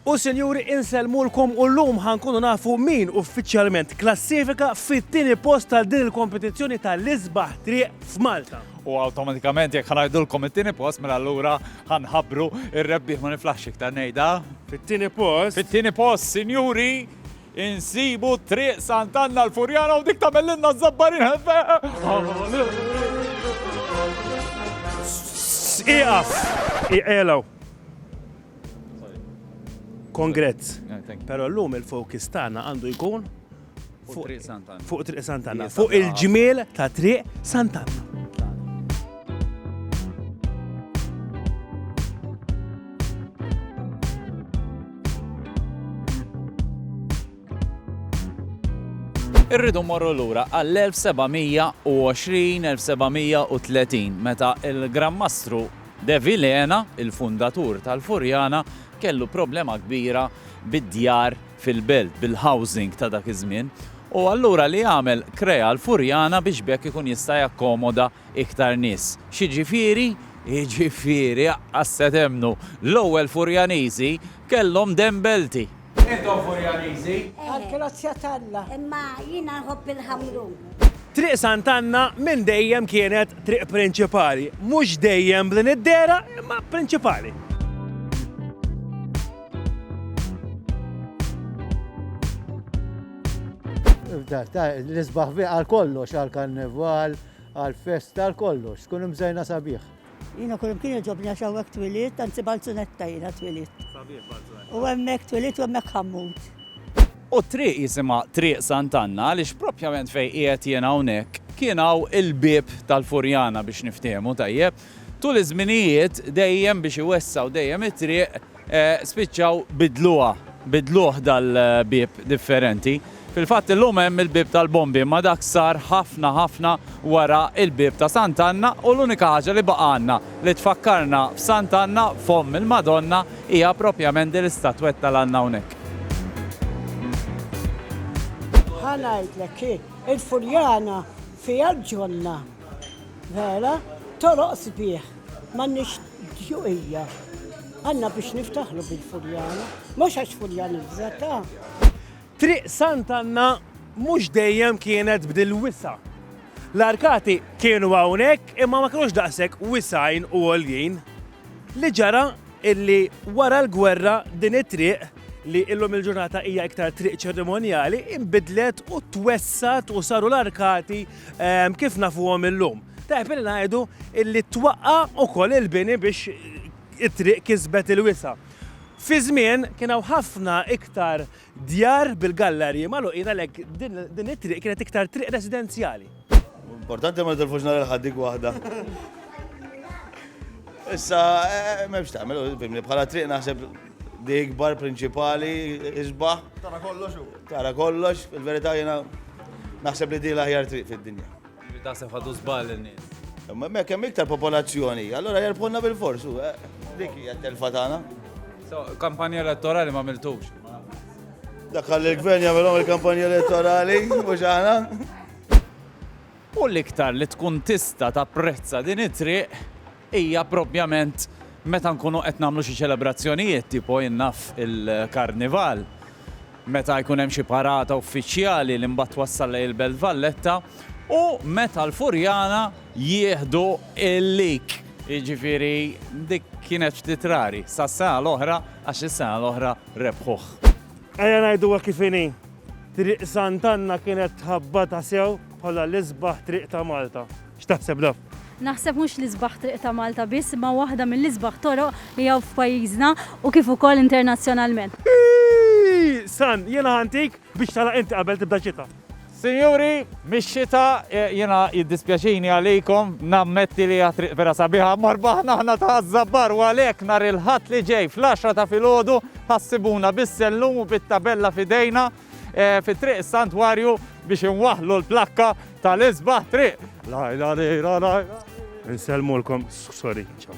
U sinjuri insellmulkom u llum ħa nkunu nafu min uffiċjalment klassifika fit-tieni post tal din il-kompetizzjoni tal-isbaħ triq f'Malta. U awtomatikament jekk ħanajdulkom it-tieni post mela allura ħanħabru ir-rebbieħ ma niflaħx iktar ngħidha. Fit-tieni post. Fit-tieni post, sinjuri, insibu triq Sant'Anna l-Furjana u dik tagħmellilna żabbarin ħefe. Iqaf! Iqelaw! Congrats. Pero l-lum il-focus tagħna għandu jkun fuq Triq Sant'Anna. Fuq Triq Sant'Anna. Fuq il-ġmiel ta' Triq Sant'Anna. Irridu morru lura għall-1720-1730 meta il-Gran Mastru De Vilhena, il-fundatur tal-Furjana, kellu problema kbira bid-djar fil-belt, bil-housing ta' dak iż-żmien, u allura li għamel krea l-Furjana biex b'hekk ikun jista' jakkomoda iktar nies. X'jiġifieri? Jiġifieri, aqqas se temmnu, l-ewwel Furjaniżi kellhom dembelti! Intom Furjaniżi? Għall-grazzja t'Alla. Imma jiena nħobb il-ħamrun. Triq Sant'Anna minn dejjem kienet triq prinċipali. Mhux dejjem b'din id-dehra, imma prinċipali. L-isbaħ għal kollox, għal karneval, għal festa, għal kollox. Tkun imżejna sabiħ. Jiena kull imkien iġobni għax hawnhekk twilidt, anzi Balzunetta jiena twilidt. Sabiħ Balzunetta. U hemmhekk twilidt u hemmhekk ħammut. U t-triq jisimha Triq Sant'Anna għaliex propjament fejn qiegħed jien hawnhekk kien hawn il-bieb tal-Furjana biex niftiehmu tajjeb. Tul iż-żminijiet dejjem biex iwessa' u dejjem it-triq Spiċċaw biddluha, biddluh dal-bieb differenti. Fil-fatt illum hemm il-bieb tal-Bombi imma dak sar ħafna ħafna wara il-bieb ta' Sant'Anna u l-unika ħaġa li baqgħalna li tfakkarna f'Sant'Anna f'Omm il-Madonna hija propjament din l-istatwetta li għandna hawnhekk. Ħa ngħidlek, hi, il-Furjana fiha l-ġonna, vera, toroq sbieħ. M'għandniex djuqija. Għandna biex niftaħru bil-Furjana. Mhux għax Furjani f'żetha. Triq Sant'Anna mhux dejjem kienet b'dil-wisa'. L-arkati kienu hawnhekk imma ma kinux daqshekk wisgħin u għoljin. Li ġara illi wara l-gwerra din it-triq, li illum il-ġurnata hija iktar triq ċerimonjali, inbidlet u twessgħet u saru l-arkati kif nafuhom illum. Tajjeb li ngħidu li twaqqa' ukoll il-bini biex it-triq kisbet il-wisa'. Fi żmien kien hawn ħafna iktar djar bil-gallarji magħluqin għalhekk din it-triq kienet iktar triq residenzjali. Importanti ma nitilfux nhar il-Ħadd dik waħda. Issa m'hemmx tagħmel, fimni, bħala triq naħseb li ikbar prinċipali isbaħ. Tara kollox u. Tara kollox, fil-verità jiena naħseb li di l-aħjar triq fid-dinja. Ġifieri taħseb ħadu żball in-nies. Imma hekk hemm iktar popolazzjoni, allura jerbħulna bil-fors, u eh, dik hija t-telfa tagħna. So, kampanja elettorali ma miltux. Dak għalli l-gvern jagħmilhom il-kampanja elettorali, mhux aħna. U l-iktar li tkun tista' tapprezza din it-triq hija proprjament meta nkunu qed nagħmlu xi ċelebrazzjonijiet tipo jien naf il-Karnival, meta jkun hemm xi parata uffiċjali li mbagħad twassal lejn il-Belt Valletta u meta l-Furjana jieħdu l-lig. Jiġifieri dik kienet ftit rari sas-sena l-oħra għax is-sena l-oħra rebħuh. Ejja ngħiduha kif inhi, Triq Sant'Anna kienet tħabbata sew bħala l-isbaħ triq ta' Malta. X'taħseb Daf? Naħseb mhux l-isbaħ triq ta' Malta biss imma waħda mill-isbaħ toroq li hawn f'pajjiżna u kif ukoll internazzjonalment. Iiii! Sun, jiena ħantik biex tagħlaq inti qabel tibda xita. Sinjuri, mix-xita, jiena jiddispjaċini għalikom, nammetti li hija triq vera sabiħa imma rbaħna aħna ta' Żabbar u għalhekk nhar il-Ħadd li ġej fl-għaxra ta' filgħodu ħa ssibuna bis-sellum u bit-tabella f'idejna. fi Triq is-Santwarju biex inwaħħlu l-plakka tal-isbaħ triq. Lajla lejla lajla. Insellmulkom, sorry, ċaw.